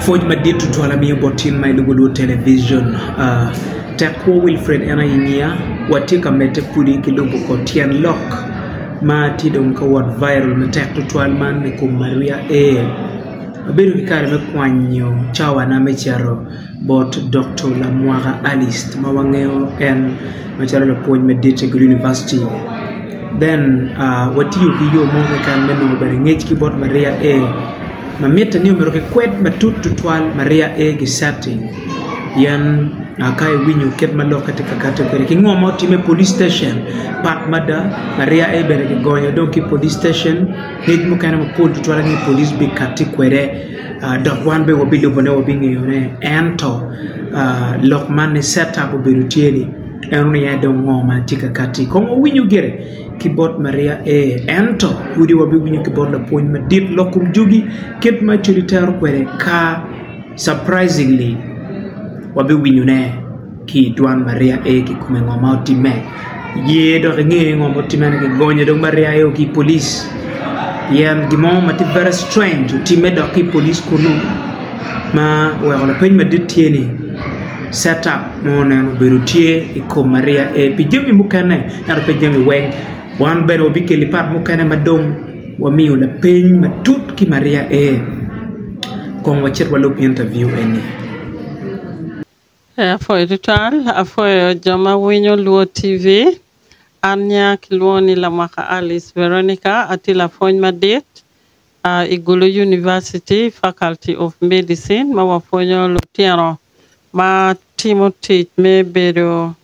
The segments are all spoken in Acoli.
Pwoc madit tutwal amiyo bot cing ma ilubo lwod television Tekwo Wilfred en aye nyiya watye ka medde kwdi ki lubo kor tyen lok ma tye dong ka wot viral matek tutwal man ni kom Maria Aye. Abedo ki kare me kwanyo cawana me cito Bot Dokto Lamwaka Alice ma wangeyo en macalo lapwony madit i Gulu Univaciti, then watiyo ki yo mo keken me nongo bene ngec ki bot Maria A. Ma mitte ni omyero kikwed matut tutwal Maria A. Gisatti pien ka iwinyo kit ma lokke tye ka kati kwede ki ngo ma otimme i Police Station pat mada, Maria A. bene kigonyo dong ki i Police Station, ngec mukene mapol tutwal aye Police bikatti kwede. dok wan bene wabilubone wabingeyone, ento lok ma ni set up obedo tye ni en onongo aye dong ngo ma tye ka kati kong wawinyo gire ki bot Maria ee ento pudi wabiwinyo ki bot lapwony madit lok kom jugi kit ma codi tero kwede ka surprisingly wabiwinyo ne. ki i twon ma ryek aye ki kome ngo ma otimme ye dok inge ngo ma otimme ni ki gonye dong ma ryek aye ki i police pien gin mo ma tye very strange otimme dok ki i police kunu ma oweko lapeny madit tye ni set up mo nen obedo tye i kom maria aye pi jami mukene ento pe jami weng wan bene wabikeli part mukene ma dong wamiyo lapeny matut ki maria aye kong wacit walub interview eni. Ee apwoyo tutwal, apwoyo jo ma winyo Luo TV. An nya kilwongo ni Lamwaka Alice Veronica, atye lapwony madit i Gulu University, Faculty of Medicine ma wapwonyo lutino ma timo tic me bedo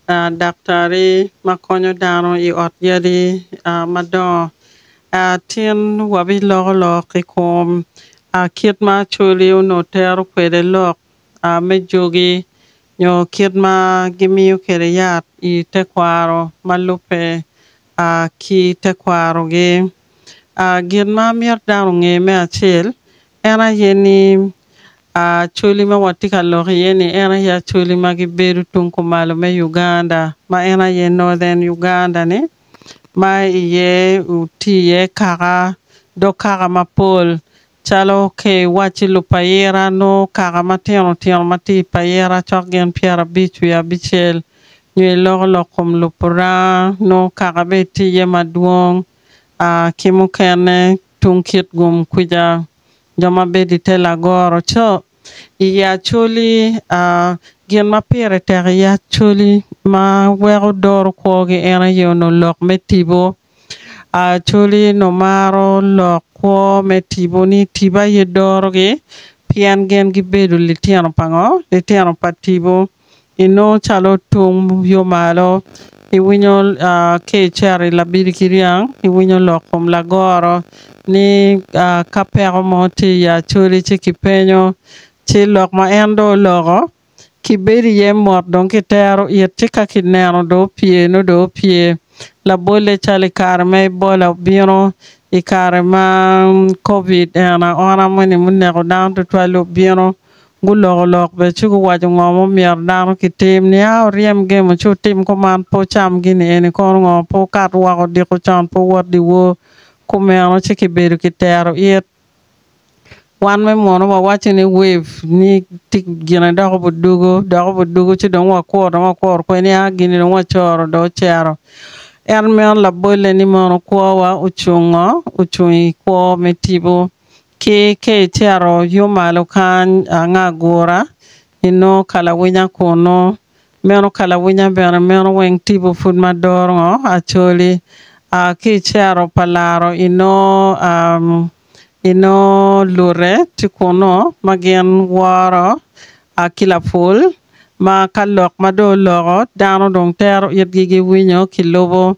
Daktari ma konyo dano i ot yadi madongo. Tin wabiloko lok i kom kit ma Acholi onongo tero kwede lok me jogi nyo kit ma gimiyo kwede yat i tekwaro ma lubbe ki tekwarogi. Gin ma myero dano onge me acel, En aye ni Acholi ma watye ka lok iye ni en aye Acholi ma gibedo tung kumalo me Uganda ma en aye Northern Uganda ni ma iye otye iye kaka dog kaka mapol calo ka iwacci lupayira nongo kaka matino tino ma tye i payira cok gin pyerabic wiye abicel nyo iloko lok kom Lupuranga nongo kaka bene tye iye madwong ki mukene tung kit gum kwica, jo ma bedo i te lagoro co, i ye acoli, gin ma pire tek i ye acoli ma weko doro kwogi en aye onongo lok me tipo. Acoli onongo maro lok kwo me tipo ni tipo aye dorogi pien gin gibedo litino pa ngo? Litino pa tipo. inongo calo tung yo malo, iwinyo ka icito i labili ki ryang iwinyo lok kom lagoro ni ka peko mo tye i Acholi ci kipenyo ci lok ma en dong oloko kibedo iye mot dong kitero it ci ka kineno dong opye nongo dong opye labolle calo i kare ma Ebola obino i kare ma Covid ena ona moni ma oneko dano tutwal-li obino. Guloko lok bene ci guwaco ngo ma omyero dano ki tim, nia oryem gemo ci otim kuman, pe ocam gini eni kono ngo, pe okat woko odiko con, pe owot dyewor, kumeno ci ki bedo ki tero it. Wan me mono wa waco ni wif ni ti gine dok obudugu, dok obudugu ci dong wa kur dong wa kur kwe nia gini dong wa coro dong ocero. En meno labolle ni mono kwowa ocung ngo, ocung i kwo me tipo. Ki ka icito yo malo kany anga agura, inongo kalawinya kunnu. Meno kalawinya bene meno weng tipo pud ma dorngo acoli. A Ki icito pa laro inongo a inongo lute tye kunnu ma gin woro A Ki lapul ma ka lok ma dong oloko, dano dong tero itgi giwinyo ki lubo.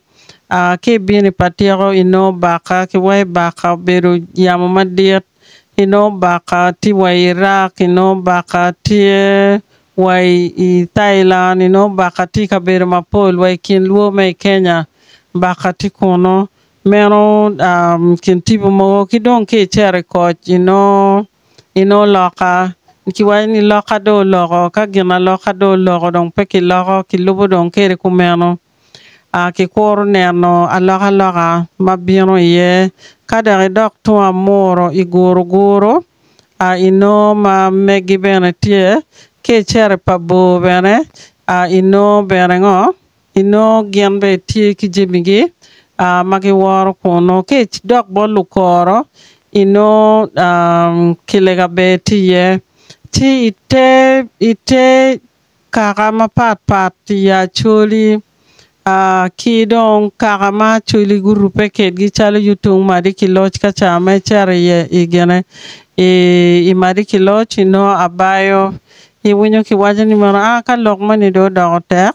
A Ki i bini pa tyeko inongo baka ki wa i baka obedo yamo madit, inongo baka tye wa i Iraq, inongo baka tye wa i Thailand, inongo baka tye i kabedo mapol wa i kin lubo ma i Kenya baka tye kunu. Meno kin tipo mogo. Ki dong ki i cito i koc inongo inongo loka kiwaco ni loka dong oloko ka gin aloka dong oloko dong pe kiloko kilubo dong kede kumeno kikuru neno alokaloka ma bino iye ka dok idok tung amuru i Guruguru inongo ma megi bene tye ki i Cere pa Bor bene inongo bene ngo Inongo gin bene tye ki jamigi ma giworo kunnu. Ka idok bot lukoro, inongo kilega bene tye iye. Ci i te kaka mapat pat i Acholi ki dong kaka ma Acholi gurubbe kwedgi calo Yutung, Madikiloc ka ca ma icito i Madikiloc, inongo abayo. Iwinyo kiwaco ni mono ka lok moni dong odoko tek,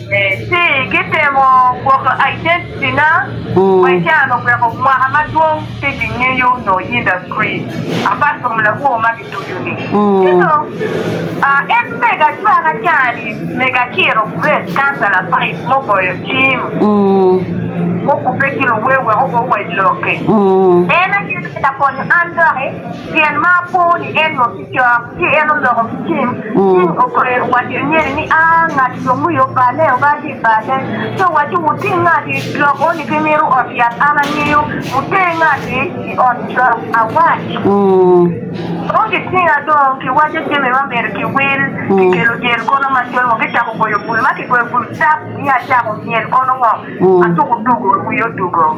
Ci gitemo gwoko identity na wa i can oweko mwaka madwong pe gingeyo noo industry apart from labwor ma gitucu ni. Ci dong en mega cwaka caa ni mega ciro Grace councilor five mo goyo cim mo kubbe ki luwer wek ogo wa i lokke en aye mega konyo an doki pien ma apo ni en noo cok, ci en oloko ki cing, cing okwero owaco i nyene ni, A, ngati dong wiye oballe, oba ki i balle. Ci owaco, Wuting ngati lok eni ki ngiru ot yat, an angeyo, wuter ngati i ot cok awac. Dong gitinga dong, kiwaco jami ma myero kiwil, kikelo jel kono macol woko, kicako goyo bul, ma kigoyo bul cap, ni acako myel kono woko, atuko tugo, wiya odugo.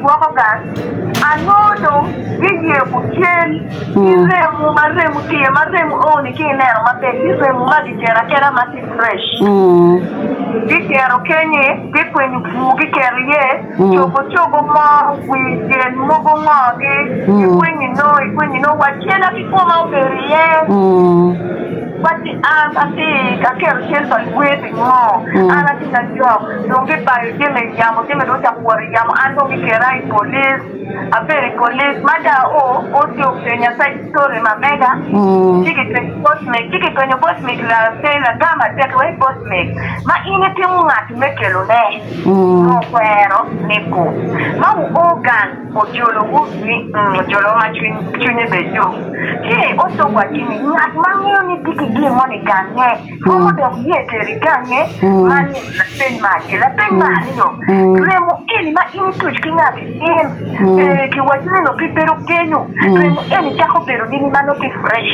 gwoko gang, anongo dong giyeko cen ki remo ma remo tye, ma remo oo-ni ki ineno maber tye remo ma gikero akera ma tye fresh. Gikero kenye, gikwenyo bur gikero iye, cogo cogo mo, wi jel mogo ngogi, ikwenyo inongo, ikwenyo inongo, wa cena ki koma obedo iye. Wacci, An atye ka kelo cal pa luwed i ngo? An atye ka jok, dong gibayo jami i yamo, jami dong ocako wot i yamo, an dong giketa i polic, abedo i polic. Ma ca o, o ci openya story ma mega, ci gipenyo boss meg, ci gipenyo boss meg la pe lagam atek wai boss meg, ma in itimo ngat me kelone, nongo okwero ni gu, ma wu o gang. Ojolowu ni, 'Ng, ojolowa ma cwinye ber dok tye i ot dog watgi ni, Ngat ma ngeyo ni tye ki gin mo ni gangnge, romo dok ye teri gangnge man ni lapeny me acel. Lapeny me aryo, Remo eni ma in ituc ki ngati in ee ki waci ni nongo kibedo kenyu, remo eni cako bedo nini ma nongo tye fresh?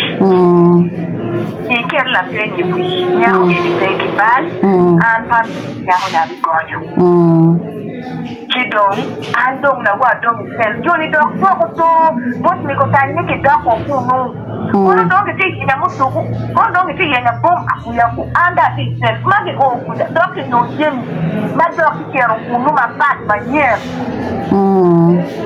Iket lapeny i wi nyako eni pe ki bal, an Pamela nyakoni abigonyo. Ci dong, an dong nawa dong i cell. Jo-ni dok dwoko to bot mego tany ni gidok woko kunnu. Kono dong gitye ka yenya muduku, kono dong gitye ka yenya bom akuya-gu. An dong atye i cell ma gio kwija dok kinyo jami ma dok kicito kunnu mapat manyen.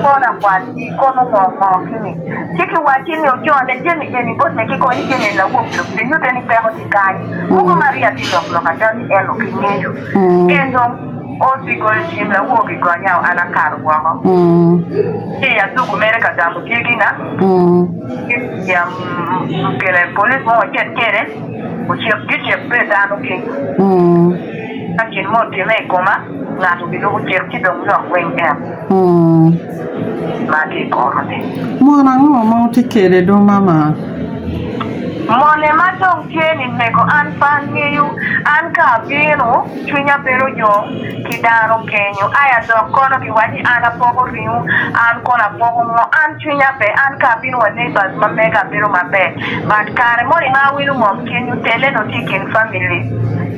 Kono akwar-ri, kono ngo ngo kini? Ci kiwacci ni ocone jami eni bot me kiko ni jami eni lawok dok kinyutte ni peko tye kany. Mogo ma rii atye lok lok ada ni en okingeyo. En dong. Osi goyo cim lawogi gonya o an akato woko ci i aduku mere ka gamo dyegi na ya okele police mo wacit kede ocek gi cek pe dano ki ka gin mo otime i koma ngato gi lubu cik ci dong lok weng en ma tye ikoro ni. Mon ango ma wutye kede do mama? Moni ma dong tye ni mego an pe angeyo an ka abino. Cwinya bedo yom ki dano kenyo. Ai adok kono giwaco ni an apoko ringu an kono apoko ngo an cwinya ber an ka abino wa neighbors ma mega abedo maber but kare moni ma awilo ngom kenyo tele dong tye ikin family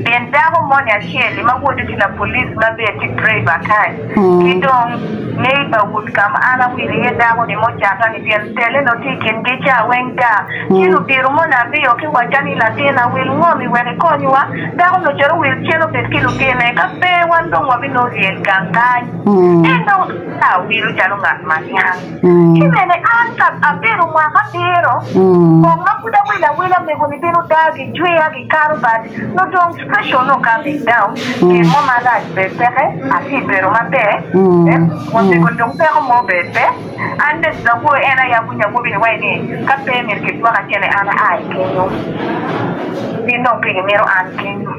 pien dako moni acel li ma wode tye lapolice ma bene tye driver kany. Ki dong, ngeyi pa ut ka ma an awilo iye dako-ni mucata-ni, pien tele nongo tye i kingi ca weng ta. Ci lubiro moni aryo ki wacca ni, 'Latinna, wil ngomi wek ikonywa. Dako-ni ocito wil cen obed ki lutinne, ka pe wan dong wabinongo lyel gang kany. En dong obedo ka wilo calo ngat ma niang. Ki bene an ka abedo mwaka abiro, kong ma pud awilo awila, amego-ni bino dagi, jwia. Kare bad nongo dong pressure onongo kato i down, gin mo marac bene peke, atye i bedo maber, wasiko dong peko mo bene pe. An bene lawoyo en aye awinyo awobi ni wai ni ka pe myero kidwoka kene an aa i kenyo, gin dong pe gimito an kenyo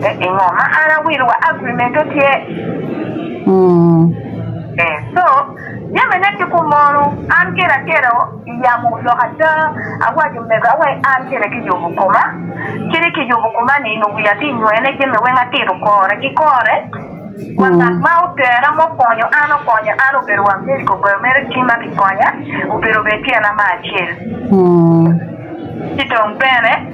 me pingo ma an awilo wa agreement-te tye. So. Jamine ki kum mono, an kene atero i yamo lok ada, awaco omego awe an kene ki yubu koma, ci ni ki yubu koma ni nung wiya ti nywene jami weng atito kore ki kore, wa ngat ma otera mo konyo an okonya an obedo wa meri kokoyo mere tima ki konya obedo bene tyena ma acel, ci dong bene.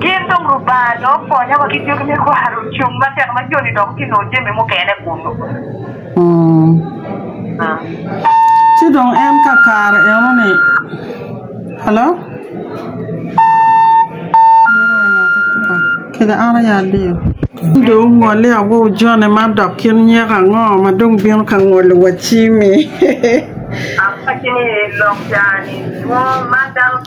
Gin dong Lubanga dong opwonyo wa ki jugi me kwaro cung matek ma joni dok tye nongo jami mukene kunu. Ci dong en kakare eno-ni, ci dong ongolli awowu joni man, dok kin nyeko ango ma dong bino ka ngolo wa cimi?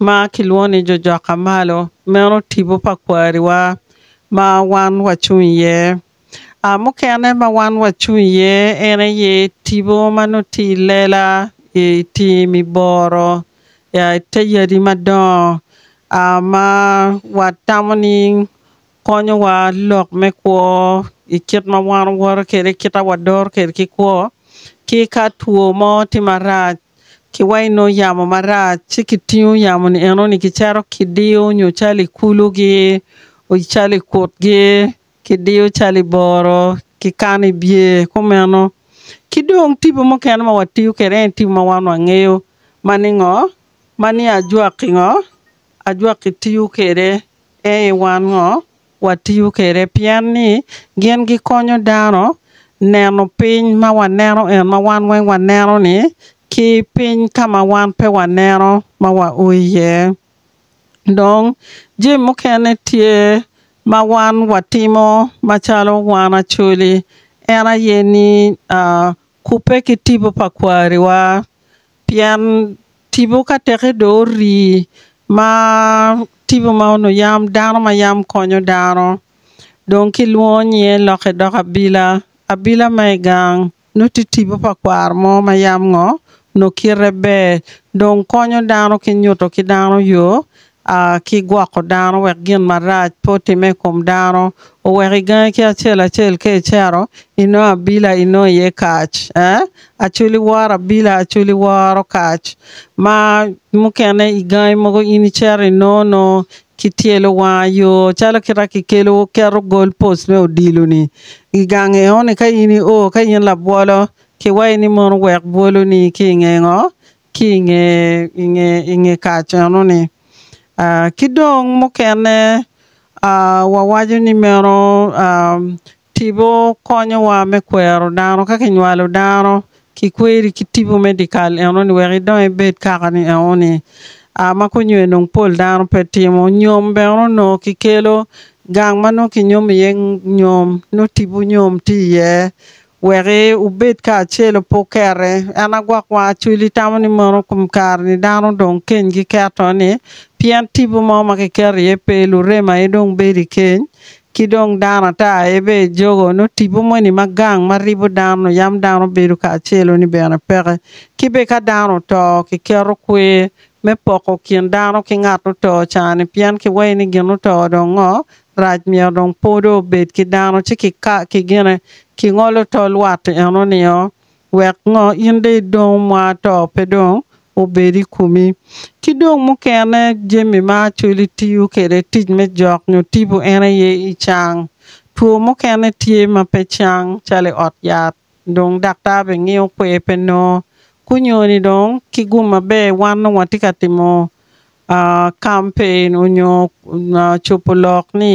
ma kilwongo ni jo jok ka malo meno tipo pa kwariwa ma wan wacung iye. Mukene ma wan wacung iye en aye tipo ma nongo tye i lela, i tim, i boro, i te yadi madongo ma watamo ni konyowa lok me kwo i kit ma wan wawoto kwede, kit ma wadoro kwede ki kwo, ki ka two mo tye marac ki wa inongo yamo marac ci kitingo yamo ni enoni kicito kidiyo nyo calo i kulu gi calo i kut gi kidiyo calo i boro ki kano i bye kumeno. Ki dong tipo mukene ma watiyo kwede en tipo ma wan wangeyo ma ni ngo ma ni ajwaki ngo ajwaki tiyo kwede Pien i wan ngo watiyo kwede? Pien ni gin gikonyo dano neno piny ma waneno en ma wan weng waneno ni ki piny ka ma wan pe waneno ma wa o iye. Dong jami mukene tye ma wan watimo macalo wan Acholi en aye ni kubbe ki tipo pa kwariwa Pien tipo ka teke dong orii, ma tipo ma onongo yam dano ma yam konyo dano, dong kilwongo nyinge lokke doko abila. Abila ma i gang nongo tye tipo pa kwaro mo ma yam ngo? Nongo kite ber, dong konyo dano ki nyuto ki dano yo a ki gwoko dano wek gin marac pe otimme i kom dano, oweko i gangi ki acel acel ka icero, i nongo abila i nongo iye kac, ee, acul i woro abila, acul i woro kac, ma mukene i gangi mogo in i cero i nongo nongo ki tyelo wanga yo calo kita ki kelo keto goal post me odilo ni i gang eno ni ka in i o ka in labwolo ki wayi ni mono wek bwolo ni ki i nge ngo Ki i nge, i nge, i nge kacenu-ni. Aa, ki dong mukene, aa, wawaco ni meno, aa, tipo konyowa me kwero dano. Ka kinywalo dano, kikweri ki tipo me dikal eno-ni wek idong ibed kaka ni eno-ni. Aa, ma kunyo enong pol dano pe timo. Nyom bene onongo kikelo, gang ma nongo kinyom iye ng, nyom, nongo tipo nyom tye iye. Weki wubed kacel opo kere. En agwok wang acwil itamo ni mono kom kare ni dano dong keny gi keto ni pien tipo mo ma ki keto iye pe lurem aye dong bedo ikeny ki dong dano ata aye be jogo no tipo mo ni ma gang ma ribo dano yam dano bedo kacelo ni bene peke ki be ka dano oto ki keto kwer me poko kin dano ki ngat oto cani pien ki weyo ni gin oto dong ngo rac myero dong po dong obed ki dano ci kika ki gine ki ngolo tol watti eno nio wek ngo in dong idong mwa to pe dong obed i kumi ki dong mukene jami ma acholi tiyo kwede tic me jok nyo tipo en aye icang two mukene tye ma pe cang calo i ot yat. Dong daktar bene ngiyo kwer pe nongo kunyoni dong ki gum maber wan dong watye ka timo campaign onyo cubo lok ni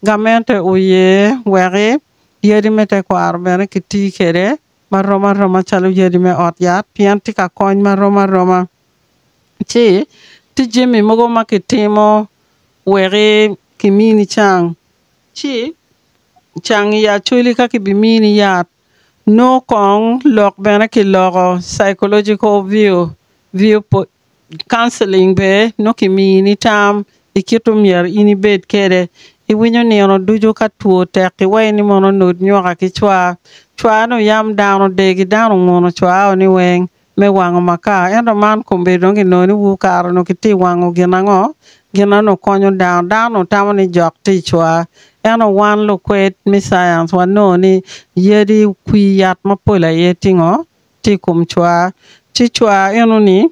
gamente oye weki yadi me tekwaro bene ki tii kwede marom aroma calo yadi me ot yat pien tye ka kony marom aroma ci tye jami mogo ma kitimo weki kimini cang ci cang i acholi ka kibimini yat nyo kong lok bene kiloko psychological view view counselling bene nyo kimini tam i kit omyero in ibed kwede iwinyo nino ducu ka two tek iwaci ni mono onut nyoka ki cwar cwar ni oyam dano degi dano onguno cwar-ro ni weng me wango makar. Ento man kombe dong ki nongo ni wu kare onongo ki ti wango gin ango? Gin na onongo konyo dano. Dano onongo tamo ni jok ticwa. Ento wan lukwed me science wa nongo ni yadi kwi yat mapol aye ti ngo? Ti i kom cwa. Ci cwa eno ni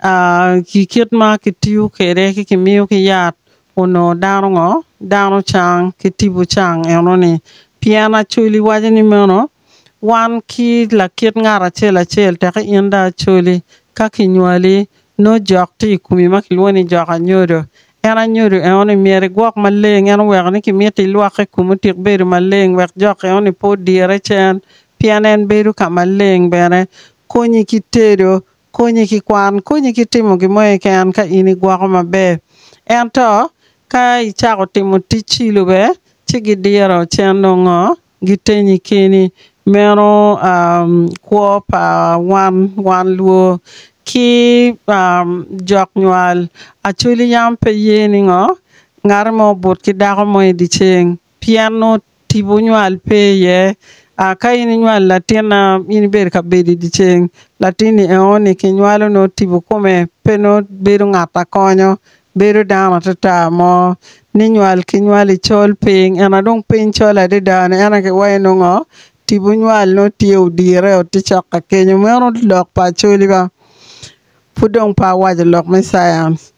a ki kit ma ki tiyo kwede ki ki miyo ki yat onongo dano ngo? Dano cang ki tipo cang eno ni. Pien Acholi waco ni meno Wan ki lakit ngat acel acel teke in dong acoli. Ka kinywali, nongo jok tye i komi ma kilwongo ni jok anyodo. En anyodo enoni myero igwok maleng, en oweko ni kimito ilwokke komi otik bedo maleng wek jok enoni pe odirre cen, pien en bedo ka maleng. Bene, konyi ki tedo, konyi ki kwan, konyi ki timo gin mo keken ka in igwoko maber. Ento, ka icako timo tic cilo bene, ci gidiro cen nongo ngo? Gitenyi keni, meno kwo pa wan, wan luo, ki jok nywal. Acholi yam pe ye ni ngo, ngati mo obut ki dako mo i di ceng, pien nongo tipo nywal pe iye. Ka in inywal latin na in ibedo ka bedo i di ceng, latin ni eo ni ki nywalo nongo tipo kome pe nongo bedo ngat akonyo Bedo dano atata mo ni nywal ki nywal i col piny ena dong piny col adada ni ena ki wayo nongo tipo nywal no tye odire o tye cok ka kenyo meno lok pa acoli ba pud dong pe awaco lok me science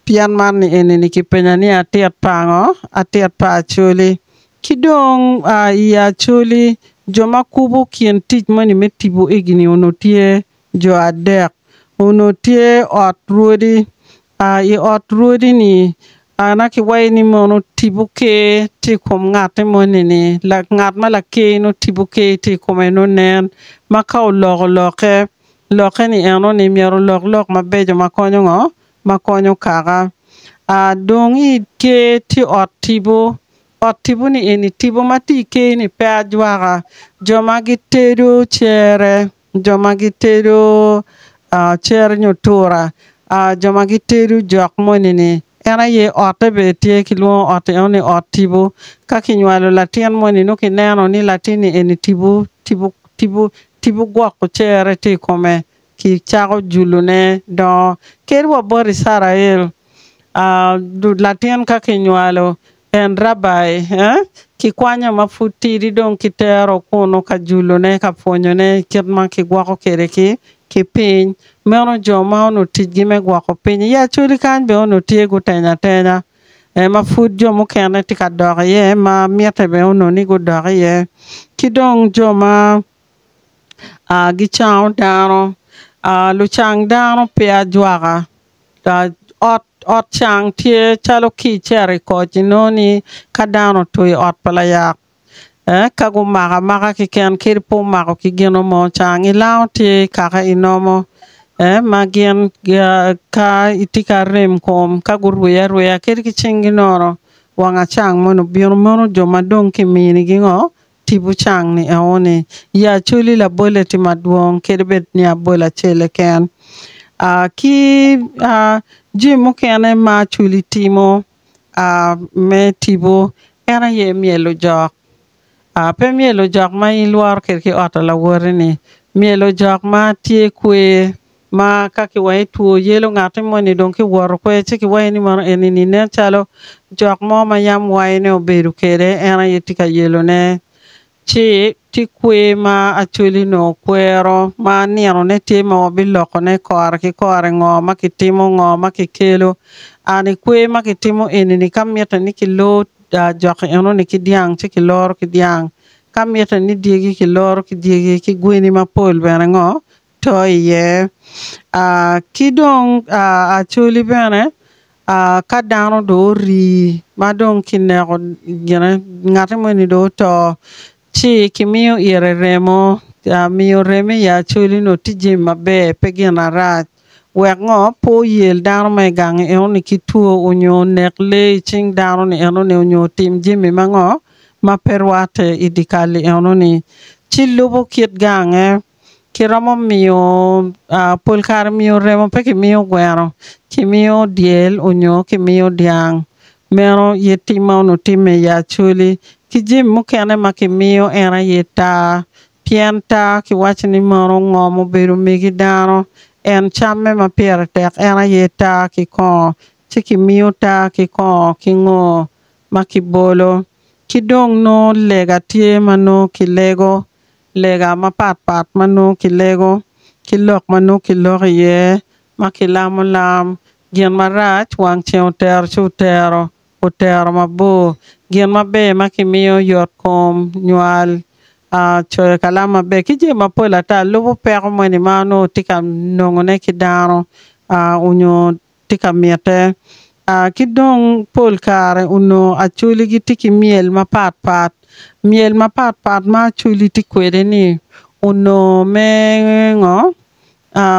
pien man ni eni ni ki penya ni atit pa ngo atit pa acoli ki dong a i acoli jo ma kubo kin tic moni me tipo igi ni onongo tye jo adek onongo tye ot rwodi. Aa i ot rwodi-ni, aa nongo ki waci ni mono tipo ker tye i kom ngatte moni-ni, ngat ma laker nongo tipo ker tye i kome nongo nen. Ma ka oloko lokke, lokke-ni eno ni myero olok lok mabeco ma konyo ngo? Ma konyo kaka. Aa dong i ker tye ot tipo. Ot tipo-ni eni, tipo ma tye i ker-ni pe ajwaka. Jo ma gitedo cere. jo ma gitedo cere nyo tura, jo ma gitedo jok moni-ni, en aye otte bene tye, kilwongo ot eno ni ot tipo. Ka kinywalo latin moni nongo kineno ni latin-ni eni tipo, tipo, tipo, tipo gwoko cere tye i kome, kicako julone dongo. Kadi wa bot Icrael, latin ka kinywalo, En Rabbi, eh? Kikwanyo ma pud tidi dong kitero kunu ka julone, ka pwonyone i kit ma kigwoko kwede ki, ki piny. Meno jo ma onongo ticgi me gwoko piny i Acholi kany bene onongo tye gutenyo atenya, eh, ma pud jo mukene tye ka dok iye, ma mitte bene onongo ni gudok iye. Ki dong jo ma, ah, gicango dano, ah, lucang dano pe ajwaka, Ot ot cang tye calo ki icito i koc inongo ni ka dano otur i ot pa layak eh ka gumako amaka keken kadi pe omako ki gino mo cang ilango tye kaka inomo eh ma gin gia ka itye ka rem kom ka gurye aryeya kadi ki cingi nono wanga cang moni obino mono jo madong kimini gingo Tipo cang ni eoni, ya acoli labolle tye madwong kadi bed ni abol acel keken. Ki jami mukene ma acoli timo me tipo en aye myelo jok. Pe myelo jok ma in ilworo kwede ki ot pa lawoti ni, myelo jok ma tye kwer. Ma ka kiwaye two yelo ngati moni dong kiwoto kwer ci kiwaye ni mono enini nen calo jok mo ma yam wayo ne obedo kede en aye tye ka yelo ne. Ci tye kwer ma Acholi nongo kwero ma nino ne tye ma wabiloko ne kore ki kore ngo ma kitimo ngo ma kikelo. An i kwer ma kitimo enini ka mite ni kilor joki enoni ki dyang ci kiloro ki dyang, ka mite ni dyegi kiloro ki dyegi ki gweni mapol bene ngo to iye. Ki dong actually bene ka dano dong ori ma dong kineko gine ngati moni dong oto ci kimiyo ite remo, miyo remo i actually onongo tye jami maber pe gin marac wek ngo pe oyel dano ma i gang enoni ki two onyo onek lee i cing dano ni enoni onyo otim jami ma ngo ma pe rwate i dikal-li enoni ci lubo kit gange. Kiromo miyo pol kare miyo remo pe kimiyo gweno kimiyo dyel onyo kimiyo dyang meno ye tim ma onongo time i Acholi ki jami mukene ma kimiyo en aye taa pien taa kiwaco ni mono ngom obedo omegi dano en camme ma pire tek en aye taa ki kongo ci kimiyo taa ki kongo ki ngo ma kibolo ki dong nongo lega tye ma nongo kilego lega mapat pat ma nongo kilego, ki lok ma nongo kiloko iye, ma kilamo lam, gin marac wang ceng otero ci otero, otero mabor, gin maber ma kimiyo, yot kom, nywal, coyo kalam maber, ki jami mapol ata lubo peko moni ma onongo tye ka nongone ki dano, onyo tye ka mitte, ki dong pol kare onongo Acholi gitye ki myel mapat pat. Myel mapat pat ma Acholi tye kwede-ni onongo me ngo?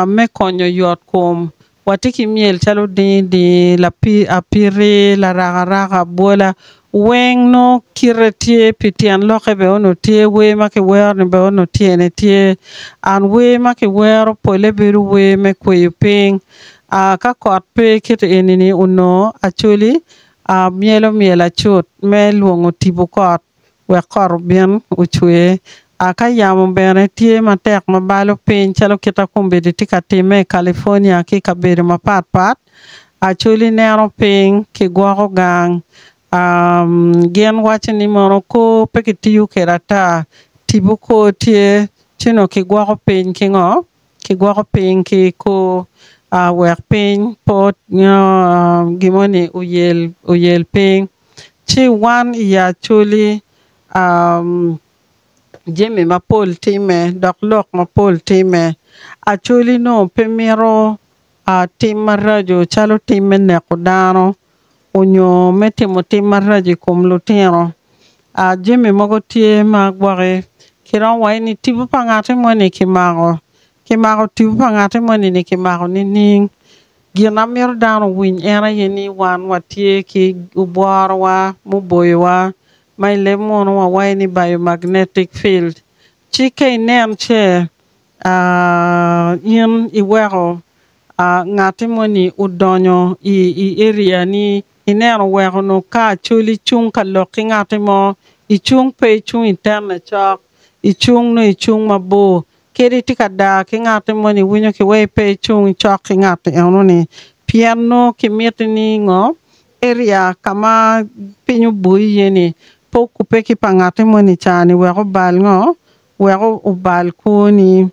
Me konyo yot kom. Watye ki myel calo dingi dingi, lapi, apiti, larakaraka, bwola. Weng nongo kite tye pi tyen lokke bene onongo tye, wer ma kiwero ni bene onongo tyene tye. And wer ma kiwero pole bedo wer me kweyo piny. Aa, ka kot pe kite eni-ni onongo Acholi aa myelo myel acut me lwongo tipo kot wek kot obin ocwer. Aa, ka yamo bene tye matek ma balo piny calo kit akombedi tye ka timme i California ki i kabedo mapat pat, Acholi neno piny ki gwoko gang gin waco ni mono kor pe ki tiyo kwede ata tipo kor tye ci nongo ki gwoko piny ki ngo ki gwoko piny ki kor wek piny pe nyo gi moni oyel piny ci wan i ya Acholi jami mapol timme dok lok mapol timme Acholi nongo pe mito Tim maraco calo tim me neko dano onyo me timo tim maraco i kom lutino. Jami mogo tye ma gwokki ki romo waci ni tipo pa ngati moni ki mako. Ki mako tipo pa ngati moni ni ki mako nining? Gin amito dano owiny en aye ni wan watye ki obworowa muboyowa ma i leb munu wawaci ni biomagnetic field. Ci ka inen ce In iweko ngatti mo ni odonyo i area ni, ineno weko onongo ka col icung ka lok ki ngatti mo, icung pe icung i tenne cok, icung nongo icung mabor, kadi itye ka daa ki ngatti mo ni iwinyo ki weko ipe icung cok ki ngatti eno ni, pien nongo ki miti ni ngo, area ka ma piny oboyi iye ni pe okubbe ki pa ngatti mo ni ca ni wek obal ngo, wek obal kwoni.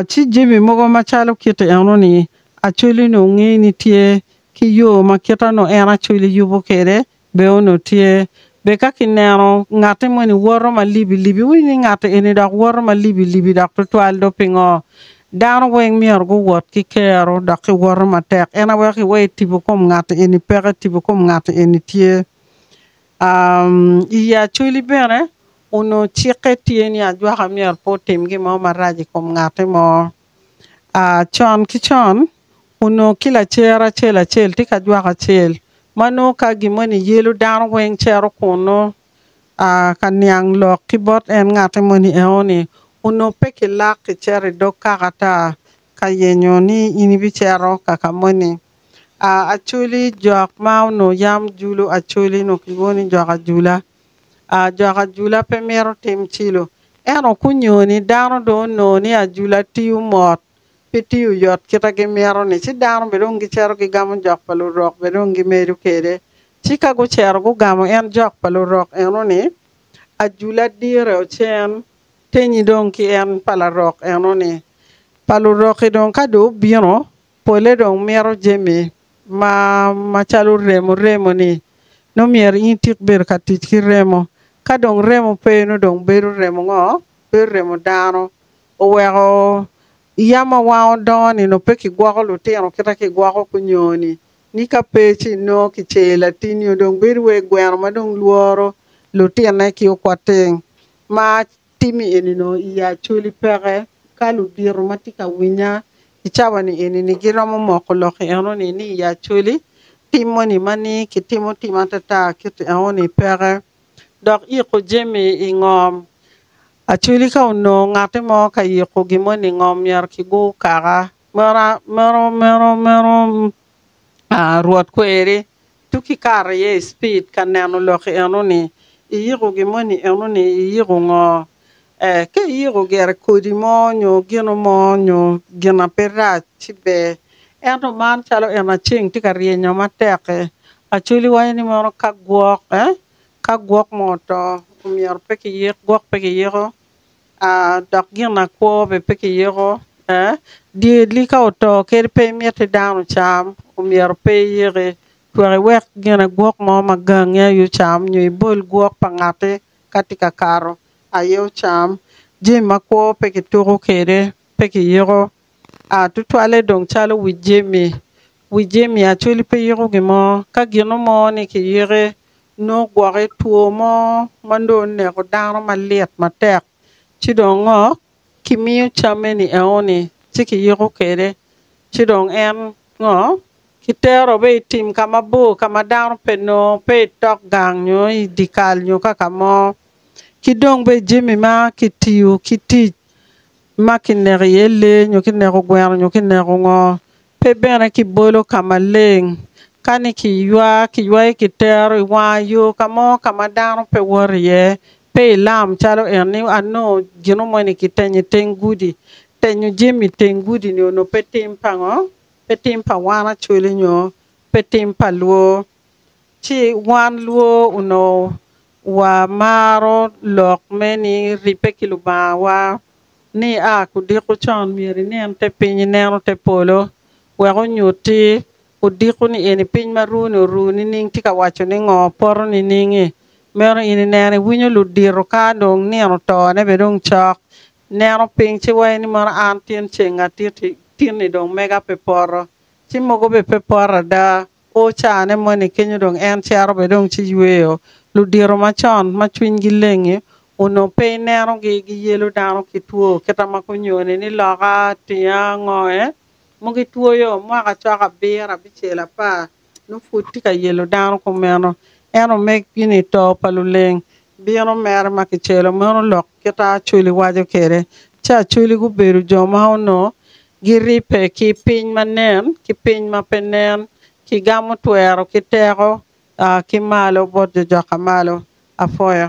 Ci jami mogo macalo kit eno-ni, Acholi-nu onge ni tye, ki yo ma kit eno en Acholi yubo kwede bene onongo tye. Be ka kineno ngatti moni woto ma libilibi, iwinyo ni ngatti eni dok woto ma libilibi dok twatwal do? Pingo? Dano weng myero guwot ki kero dok ki woto matek. En aye weko iwe itibo kom ngatti eni peke, itibo kom ngatti eni tye. I yi Acholi bene, onongo cikke tye ni ajwaka myero pe otim gin mo marac i kom ngati mo. Con ki con, onongo ki lacer acel acel tye ki ajwaka acel ma nongo ka gin moni yelo dano weng cito kunnu ka niang lok ki bot en ngati moni enoni. Onongo pe kilak kicito i dog kaka ata ka yenyo ni in ibicito kaka moni. Acholi jok ma onongo yam julo acholi onongo kilwongo ni jok ajula. Jok ajula pe mito tim cilo ento kunyo ni dano dong onongo ni ajula tiyo mot pe tiyo yot kite gimito ni ci dano bene dong gicito gigamo jok pa lurok bene dong gimedo kwede ci ka gucito gugamo en jok pa lurok eno ni ajula dire ocen tenyi dong ki en pa lurok eno ni pa luroki dong ka dong obino Polle dong mito jami ma macalo remo, remo ni nongo myero in itik bedo ka tic ki remo. Ka dong remo pe nongo dong bedo remo ngo? Bedo remo dano. Oweko yam ma wan wadongo ni nongo pe ki gwoko lutino kita ki gwoko kunyo ni. Ni ka pe ci nongo ki cer latin nyo dong bedo wai gweno ma dong lworo lutine ki okwating. Ma Timmi eni-nu i Acoli peke ka ludito ma tye ka winya i cawa-ni eni-ni giromo moko lok enoni ni i Acoli tim moni ma ni kitimo tim atata kit enoni peke. Dok yiko jami i ngom. Acoli ka onongo ngati mo ka yiko gin moni i ngom myero kigur kaka. Meno, meno, meno, meno Rwot kweri. Tuk ki kato iye i cipid ka neno lok enoni. Iyiko gin moni enoni iyiko ngo? Ee, ka iyiko gire kodi mo nyo gino mo nyo gin ma pe rac ci ber. Ento man calo en ma ceng tye ka ryenyo matek-ki, Acholi waco ni mono ka gwok, ee, ka gwok mo oto, omyero pe kiyik, gwok pe kiyiko? Dok ginakwo bene pe kiyiko. Dyerli ka oto kadi pe imit ni dano ocam, omyero pe iyiki twak iwek ginagwok mo ma gangi aye ocam nyo ibol gwok pa ngatti ka tye ka kato aye ocam. Jami makwo pe kituko kede, pe kiyiko. Tutwalle dong calo wi jami. Wi jami Acholi pe yiko gin mo. Ka gino mo ni kiyike, nongo gwoke two mo ma nongo oneko dano malit matek, ci dong ngo? Kimiyo camme ni eo ni, ci kiyiko kwede, ci dong en ngo? Kitero be i tim ka mabor ka ma dano pe nongo, pe i tok gang nyo i dye kal nyo kaka mo. Ki dong be jami ma kitiyo ki tic. ma kineko iye lee nyo kineko gweno nyo kineko ngo pe bene kibolo ka maleng ka ni kiywa kiywayo kitero i wanga yo ka mo ka ma dano pe woto iye pe ilam calo enni anongo gino moni kitenyo iteng gudi tenyo jami iteng gudi ni onongo pe tim pa ngo pe tim pa wan Acholi nyo pe tim pa lwor ci wan lwor onongo Wamaro lok me ni ribbe ki Lubangawa ni a kudiko con myero inen te piny ineno te polo wek onyutti odiko ni eni piny ma runi oru nining tye ka waco ni ngo poto niningi meno in ineno iwinyo ludito ka dong nino oto ne bene dong cok ineno piny ci wayo ni mono an tin ceng atiti tin ni dong mega pe poto ci mogo bene pe poto ada. Kwo caa-ne moni kenyo dong en cito bene dong ci yweyo. Ludito macon ma cwinygi lengi onongo pe inenogi giyelo dano ki two kita ma kunyone ni loka, tinga, ngoe mo gitwoyo mwaka cok abiro, abicel, apar nongo pud tye ka yelo dano kumeno. En omegi ni to pa luleng bino mere ma kicelo meno lok kita Acholi waco kwede. Ci Acholi gubedo jo ma onongo Giribbe ki piny ma nen ki piny ma pe nen, Kigamo twero ki teko ki malo bot jo joka malo. Apwoyo.